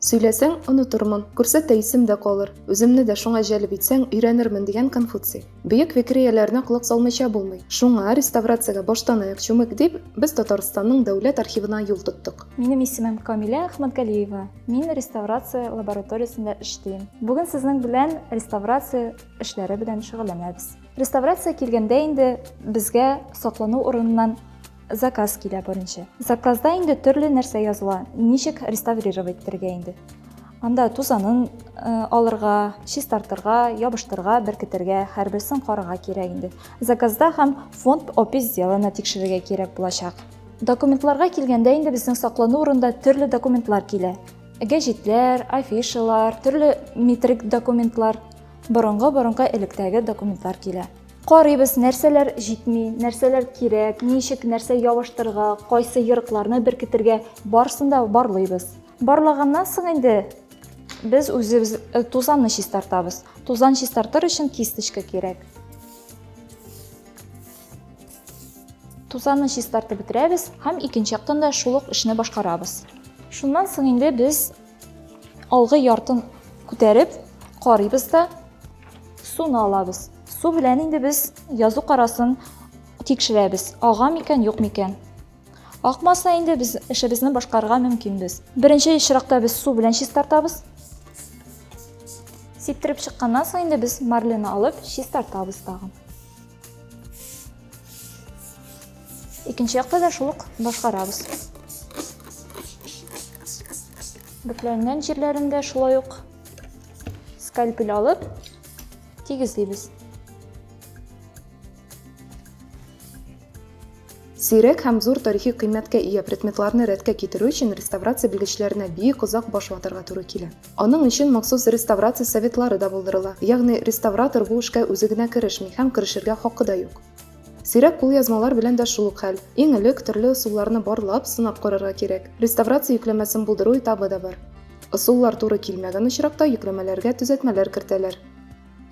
Сөйләсәң, онытырмын, күрсәтә исем дә калыр, үземне дә шуңа җәлеп итсәң, өйрәнермен, дигән Конфуций. Бөек фикерияләренә колак салмыйча булмый. Шуңа, реставрациягә баштанаяк чүмек дип, без Татарстанның Дәүләт архивына юл тоттык. Минем исемем Камилә Әхмәтгалиева, мин реставрация лабораториясендә эшлим. Бүген сезнең белән реставрация эшләре белән шөгыльләнәбез. Реставрация килгәндә инде безгә саклану урыныннан, Заказ килә беренче. Заказда инде төрле нәрсә языла. Ничек реставрировать итәргә инде. Анда тузанын э, алырга, чистартырга, ябыштырга, беркетергә, һәрберсен карага кирәк инде. Заказда һәм фонд опись сделана тикшерергә кирәк булачак. Документларга килгәндә инде безнең саклану урында төрле документлар килә. Гәҗитләр, афишалар, төрле метрик документлар, борынгы-борынгы электәге документлар килә. Карыйбыз, нәрсәләр җитми, нәрсәләр кирәк, ничек нәрсә ябыштырырга, кайсы ерыкларны беркетергә, барысын да барлыйбыз. Барлаганнан соң инде без үзебез э, тузанны чистартабыз. Тузан чистартыр өчен кисточка кирәк. Тузанны чистартып бетерәбез һәм икенче яктан да шул ук эшне башкарабыз. Шуннан соң инде без Алгы яртын күтәреп карыйбыз да суны алабыз. Су белән инде без язу карасын тикшерәбез. Ага микән, юк микән? Акмаса инде без эшебезне башкарырга мөмкинбез. Беренче чиракта без су белән чистартабыз. Сиптереп чыкканнан соң инде без марлены алып чистартабыз тагын. Икенче якта да шул ук башкарабыз. Бөкләнгән җирләрендә шулай ук скальпель алып тигезлибез. Сирәк һәм зур тарихи кыйммәткә ия предметларны рәткә китерү өчен реставрация белгечләренә бик озак баш ватарга туры килә. Аның өчен махсус реставрация советлары да булдырыла, ягъни реставратор бу эшкә үзе генә керешми һәм керешергә хакы да юк. Сирәк кулъязмалар белән дә шул ук хәл. Иң элек төрле ысулларны барлап, сынап карарга кирәк. Реставрация йөкләмәсен булдыру этабы да бар. Ысуллар туры килмәгән очракта йөкләмәләргә төзәтмәләр кертәләр.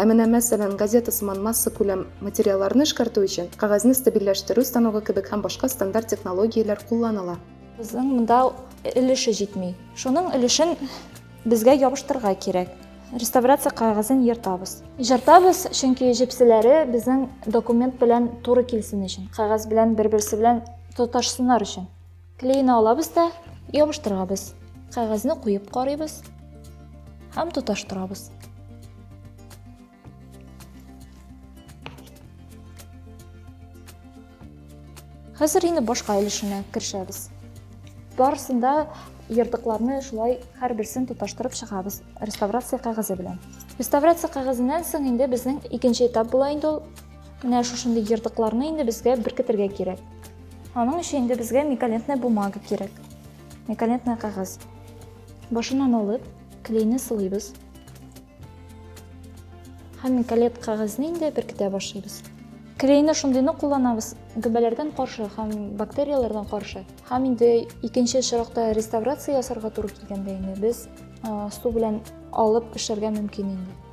Ә менә, мәсәлән, газета сыман массакүләм материалларны эшкәртү өчен кәгазьне стабильләштерү станогы кебек һәм башка стандарт технологияләр кулланыла. Безнең монда өлеше җитми. Шуның өлешен безгә ябыштырырга кирәк. Реставрация кәгазен ертабыз. Җыртабыз, чөнки җепселәре безнең документ белән туры килсен өчен, кәгазь белән бер-берсе белән тоташсыннар өчен. Клейны алабыз да ябыштырабыз. Кәгазьне куеп карыйбыз һәм тоташтырабыз. Хәзер инде башка өлешенә керешәбез. Барысында ертыкларны шулай һәрберсен тоташтырып чыгабыз реставрация кәгазе белән. Реставрация кәгазеннән соң инде безнең икенче этап була инде ул. Менә шушындый ертыкларны инде безгә беркетергә кирәк. Аның өчен инде безгә миколентная бумага кирәк. Миколентная кәгазь. Башыннан алып, клейны сылыйбыз. Һәм миколет кәгазьне инде беркетә башлыйбыз. Клейны шундыйны кулланабыз, гөбәләрдән каршы һәм бактерияләрдән каршы. Һәм инде икенче очракта реставрация ясарга туры килгәндә инде без су белән алып эшләргә мөмкин инде.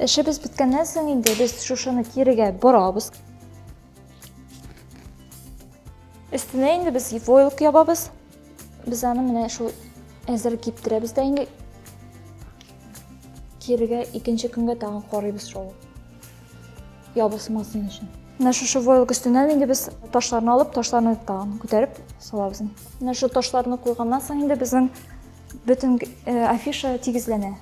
Эшебез беткәннән соң инде без шушыны кирегә борабыз. Өстенә инде без войлык ябабыз. Без аны менә шул әзер киптерәбез дә инде кирегә икенче көнгә тагын карыйбыз шул ябысмасын өчен. Менә шушы войлык өстеннән инде без ташларны алып, ташларны тагын күтәреп салабыз. Менә шул ташларны куйганнан соң инде безнең Бөтен афиша тигезләнә.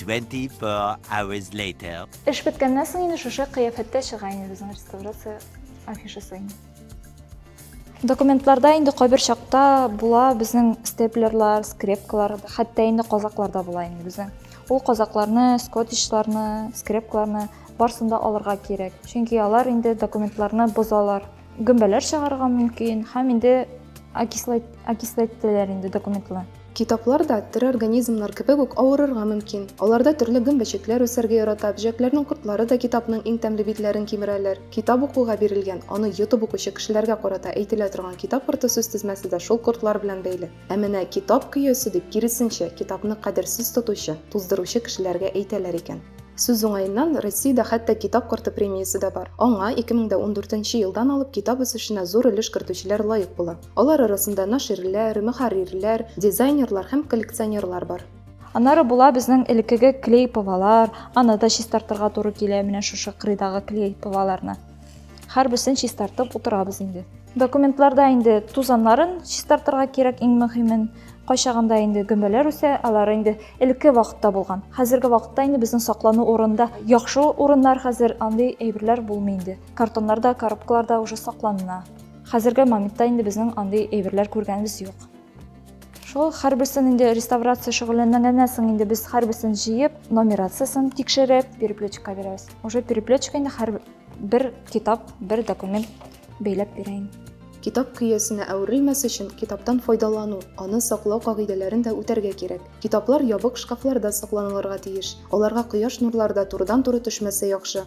24 hours later. Эш беткәннән соң инде шушы кыяфәттә чыга инде безнең реставрация афишасы. Документларда инде кайбер чакта була безнең степлерлар, скрепкалар, хәтта инде казаклар да була инде безнең. Ул казакларны, скотичларны, скрепкаларны барсын да алырга кирәк. Чөнки алар инде документларны бозалар. Гөмбәләр чыгарырга мөмкин һәм инде окисләттеләр инде документлы. Китаплар да тере организмнар кебек үк авырырга мөмкин. Аларда төрле гөмбәчекләр үсәргә ярата, бөҗәкләрнең кортлары да китапның иң тәмле битләрен кимерәләр. Китап укуга бирелгән, аны йотып укучы кешеләргә карата әйтелә торган китап корты сүзтезмәсе дә шул кортлар белән бәйле. Ә менә китап көясе дип, киресенчә, китапны кадерсез тотучы, туздыручы кешеләргә әйтәләр икән. Сүз уңаеннан, Россиядә хәтта Китап корты премиясе дә бар. Аңа 2014 елдан алып китап үсешенә зур өлеш кертүчеләр лаек була. Алар арасында наширләр, мөхәррирләр, дизайнерлар һәм коллекционерлар бар. Аннары була безнең элеккеге клей-повалар, аны да чистартырга туры килә, менә шушы кырыйдагы клей-поваларны. Һәрберсен чистартып утырабыз инде. Документларда инде тузаннарын чистартырга кирәк иң мөһимен. Кайчагында инде гөмбәләр үсә, алар инде элекке вакытта булган. Хәзерге вакытта инде безнең саклану урында яхшы урыннар хәзер андый әйберләр булмый инде. Картоннарда, коробкаларда уже сакланына. Хәзерге моментта инде безнең андый әйберләр күргәнебез юк. Шул һәрберсен инде реставрация шөгыльләнгәннән соң инде без һәрберсен җыеп, номерациясен тикшереп, переплетчикка бирәбез. Уже переплетчик инде һәр бер китап, бер документ бәйләп бирә инде. Китап көясенә әверелмәс өчен китаптан файдалану, аны саклау кагыйдәләрен дә үтәргә кирәк. Китаплар ябык шкафларда сакланылырга тиеш. Аларга кояш нурлары да турыдан-туры төшмәсә яхшы.